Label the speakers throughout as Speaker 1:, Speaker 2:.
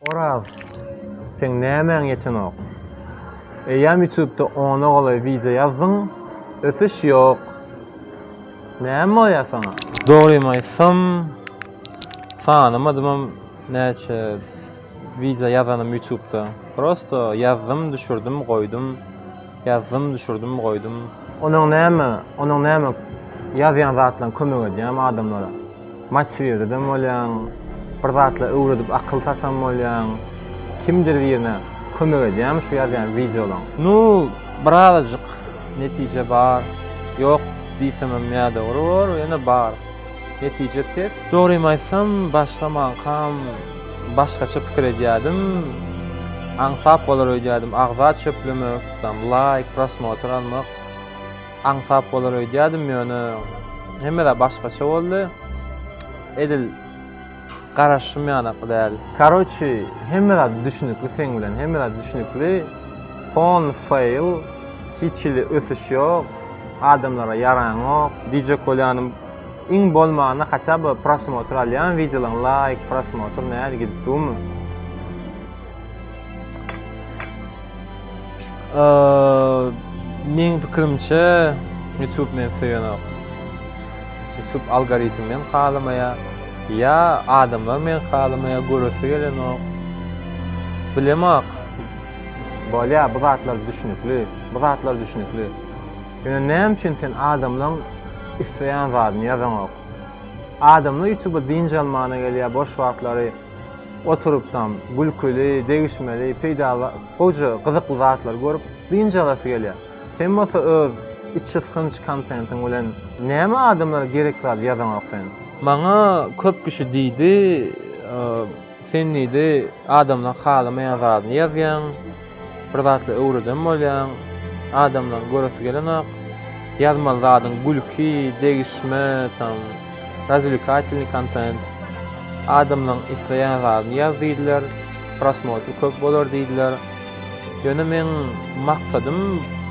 Speaker 1: Oraz, seň nämäň ýetenok? Eýýäm ýutubda ona golaý wideo ýazdyň, ösüş ýok. Näme bolýar saňa? Dogrymy aýtsam, sanamadymam näçe wideo ýazanym ýutubda. Prosto ýazdym, düşürdim, goýdum. Ýazdym, düşürdim, goýdum. Onuň näme, onuň näme ýazýan zatlaryň kömek edýämi adamlara? Motiv ededem bolýaň, bir zatlar öwredip akyl satam bolýaň. Kimdir birine kömek edýämi şu ýazýan wideolaň? Nu, birazajyk netije bar. Ýok diýsemem ýa dogry bor, ýöne bar. Netije pes. Dogrymy aýtsam, başlamankam başgaça pikir edýärdim. Aňsat bolar öýdýärdim, agza çöplemek, tam laýk, prosmotr almak aňsat bolar öýdýärdim, ýöne hemme zat başgaça boldy. Edil Garaşym ýanakly däl. Karoçi hemme zat düşnükli seň bilen hemme zat düşnükli Phone fail hiç hili ösüş ýok adamlara ýaraňok. DJ Kolýanym iň bolmanda haça by prosmotr alýan wideolaň laýk prosmotr nädip gidip dumy. Meň pikirimçe YouTube meni söýenok. YouTube algoritm meni halamaýa, ýa adamlar meni halamaýa, göresi gelenok. Bilemok. Bolýa, bu zatlar düşnükli, bu zatlar düşnükli. Ýöne näme üçin sen adamlaň isleýän zadyny ýazaňok? Adamlar YouTube dynç almana gelýä, boş wagtlary Oturypdam gülküli, degişmeli, peýdaly, goja gyzykly zatlary görüp, dynç alasy gelýär. Sen bolsa öz içysgynç kontentiň bilen näme adamlara gerek zady ýazaňok sen? Maňa köp kişi diýdi, sen diýdi, adamlaryň halamaýan zadyny ýazýaň. Bir zatlar öwreden bolýaň. Adamlaň göresi gelenok. Ýazmaly zadyň gülki, degişme, tam, razwlikatilnyý kontent. Adamlaň isleýän zadyny ýaz diýdiler. Prosmotr köp bolar diýdiler. Ýöne meň maksadym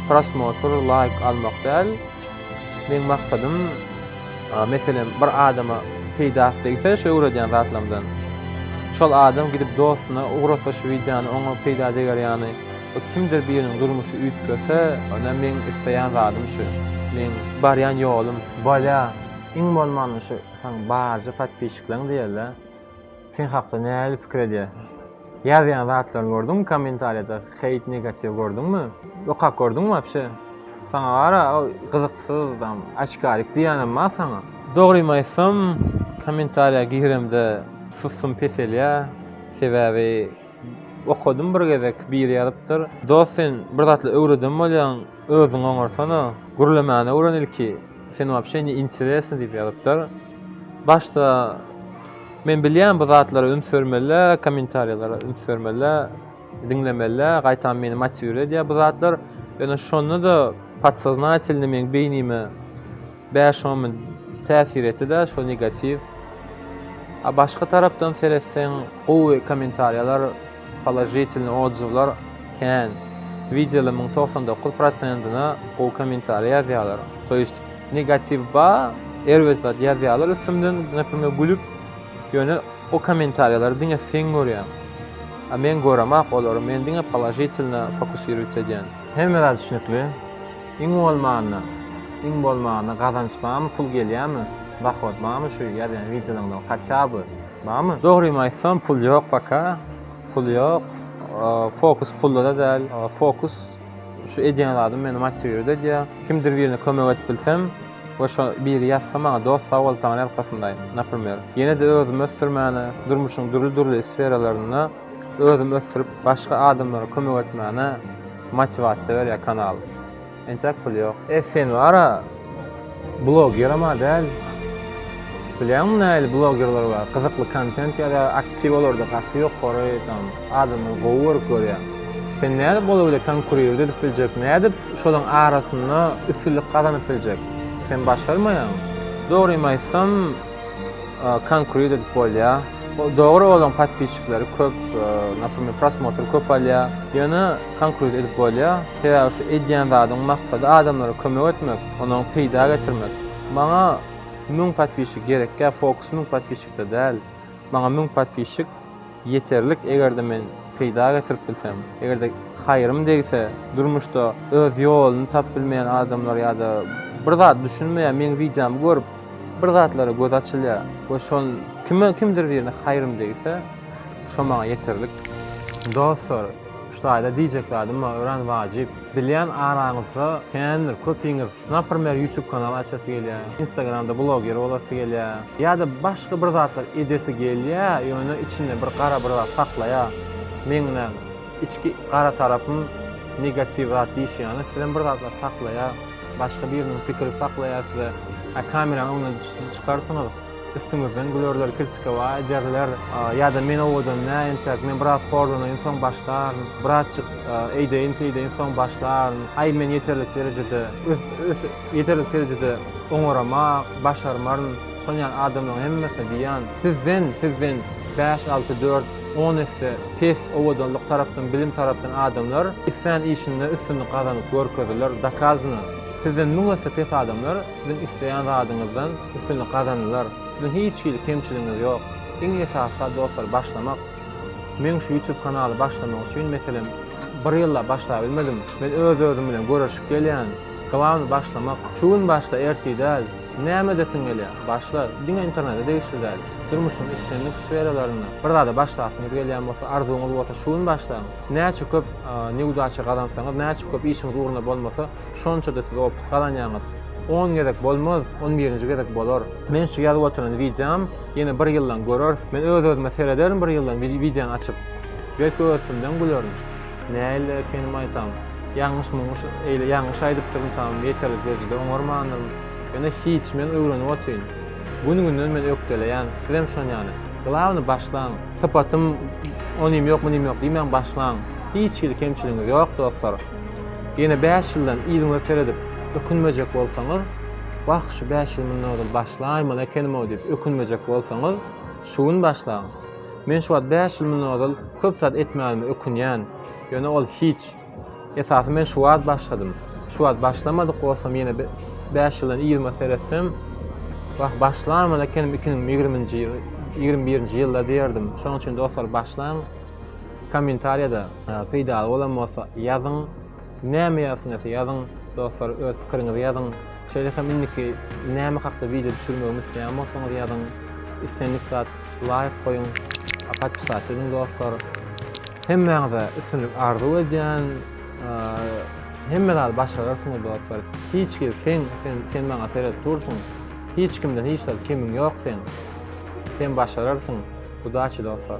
Speaker 1: prosmotr, laýk almak däl. Meň maksadym, meselem, bir adama peýdasy degse şu öwredýän zatlarymdan, şol adam gidip dostuna ugrasa şu wideony oňa peýda deger ýaly, we kimdir biriniň durmuşy üýtgese, ynha meň isleýän zadym şu, meň barýan ýolum. Bolýa, iň bolmanda şu saň barja podpisçikleň diýeli. Sen hakda nähili pikir edýär? Ýazýan zatlaryny gördüňmi kommentariýada heýt negatiw gördüňmi? Okap gördüňmi wapşe? Saňa gara ol gyzyksyz tam açkarik diýýänem bar saňa. Dogrymy aýtsam kommentariýa giremde sussum peselýä sebäbi okadym bir gezek biri ýazypdyr dost sen bir zatlar öwreden bolýaň özüňi oňarsana gürlemäni öwren ilki. Sen wapşe ne interesny diýip ýazypdyr. Başda men bilýän bu zatlara üns bermelä, kommentariýalara üns bermelä, diňlemelä, gaýtam meni motiwir edýär bu zatlar. Ýöne şonda-da podsoznatelni meň beýnime bäş on mün täsir etdi-de şo negatiw. A başga tarapdan seretseň gowy kommentariýalar, Položitelnyý otzuwlar kän. Wideoly müň togsan dokuz prosentina gowy kommentariý ýazýalar. To ýest negatiw bar, erbet zat ýazýalar üstümden gepime gülüp, ýöne o kommentariýalary diňe seň görýäň. A men göremok olary, men diňe položitelna fokusirowitsa edýän. Hemme zat düşnükli. Iň bolmanda, iň bolmanda gazanç barmy, pul gelýärmi, dohod barmy şu ýazýan wideolaňdan hatýa by. Barmy? Dogrymy aýtsam pul ýok paka. Pul ýok. Fokus pulda-da däl. Fokus şu edýän zadym meni motiwirt edýär. Kimdir birine kömek edip bilsem we şo biri ýazsa maňa dost sag bol saňa arkasyndayyn, naprimer. Ýene-de özümi ösdürmäne, durmuşyň dürli-dürli sferalarynda özümi ösdürip başga adamlara kömek etmäne motiwasiýa berýär kanal. Entäk pul ýok. E sen wara blogeram-a däl. Bilýäňmi nähili blogerler bar, gyzykly kontent ýazýar, aktiw olarda gaty ýokary, tam adamlar gowy görüp görýär. Sen nädip ola bile konkurirdi edip biljek, nädip şolaryň arasynda üstünlik gazanyp biljek? Sen başarmaýaňmy? Dogrymy aýtsam, konkret edip bolýa dogry olaň podpisçikleri köp naprimýr prosmotr köp alýa ýöne konkret edip bolýa sebäbi şu edýän zadyň maksady adamlara kömek etmek onuň peýda getirmek maňa müň podpisçik gerekkä fokus müň podpisçikde däl maňa müň podpisçik Ýeterlik eger-de men peýda getirip bilsem, eger-de haýrym degse, durmuşda öz ýoluny tapyp bilmeýän adamlar ýa-da bir zat düşünmeýär, meň wideomy görüp bir zatlara gözi açylýar we şol kime kimdir birine haýrym degse, şo maňa ýeterlik. Dostlar! Şu taýda diýjek zadym bar örän wajyp. Bilýän araňyzda kändir köpiňiz naprmer ýutub kanal açasy gelýä, instagramda bloger bolasy gelýä ýa-da başga bir zatlar edesi gelýä ýöne içinde bir gara bir zat saklaýa. Meň näm, içki gara tarapym negatiw zat diýşi ýaly sizem bir zatlar saklaýa, başga biriniň pikiri saklaýa size. Hä kameraň öňüne çykarsyňyz. Üstüňizden gülerler, kilsika, Waý, derler. Ýa-da men owadan näin entek, men biraz horlanaýyn, soň başlaryn. Birazjyk eýdeýin-seýdeýin, soň başlaryn. Aý, men ýeterlik derejede, ös-ös, ýeterlik derejede oňarama, başarmaryn. Şol ýaly adamlaryň hemmesine diýýän. Sizden, sizden bäş, alty, dört, on esse pes owadanlyk tarapdan, bilim tarapdan adamlar islän işinde üstünlik gazanyp görkezdiler, dokazno. Sizden müň esse pes adamlar. Siziň isleýän zadyňyzdan üstünlik gazanylar. Siziň hiç hili kemçiligiňiz ýok. Iň esasy zat dostlar başlamak. Men şu ýutub kanaly başlamak üçin meselem bir ýyllap başlabilmedim. Men öz özüm bilen göreşip gelýän. Glawny başlamak. Şu gün başla ertir däl. Näme edesiň gelýä? Başla. Diňe internete degişli däl. Durmuşyň islendik sferalarynda bir zada başlasyňyz gelýän bolsa arzuwyňyz bolsa şu gün başlaň. Näçe köp newdaça gazansaňyz näçe köp işiňiz ugruna bolmasa Şonça-da siz opyt gazanýaňyz. On gezek bolmaz, on birinji gezek bolar. Men şu ýazyp oturan wideom ýene bir ýyldan göreris. Men öz-özüme serederin bir ýyldan wideony açyp. Belki öz üstümden gülerin. Nähili ekenim aýtam. Ýalňyş-muňňyş eýle ýalňyş aýdypdyryn tam ýeterlik derejede oňarmandyryn. Ýöne hiç, men öwrenip otyryn. Gün-günden men ökdeleýän. Sizem şon ýaly. Glawny başlaň. Sypatym onym ýok munym ýok diýmäň başlaň. Hiç hili kemçiligiňiz ýok dostlar. Ýene bäş ýyldan yzyňyza seredip, ökünmejek bolsaňyz, Wah, şu bäş ýyl mundan ozal başlaýmaly ekenim-ow diýip ökünmejek bolsaňyz, şu gün başlaň. Men şu wagt bäş ýyl mundan ozal köp zat etmänime ökünýän. Ýöne ol hiç. Esasy men şu wagt başladym. Şu wagt başlamadyk bolsam ýene bäş ýyldan yzyma seretsem, Wah, başlaýmaly ekenim iki müň ýigrimi ýigrimi birinji ýylda diýerdim. Şonuň üçin dostlar başlaň. Kommentariýada peýdaly bolan bolsa ýazyň. Näme ýazsyňyz ýazyň dostlar öz pikiriňizi ýazyň. Şeýle hem indiki näme hakda wideo düşürmegimi isleýän bolsaňyz ýazyň. Islendik zat laýk goýuň. Podpisat ediň dostlar. Hemmäňize üstünlik arzuw edýän. Hemme zady başararsyňyz dostlar. Hiç kim sen sen maňa seret dursuň. Hiç kimden hiç zat kemiň ýok seň. Sen başararsyň udaçi dostlar.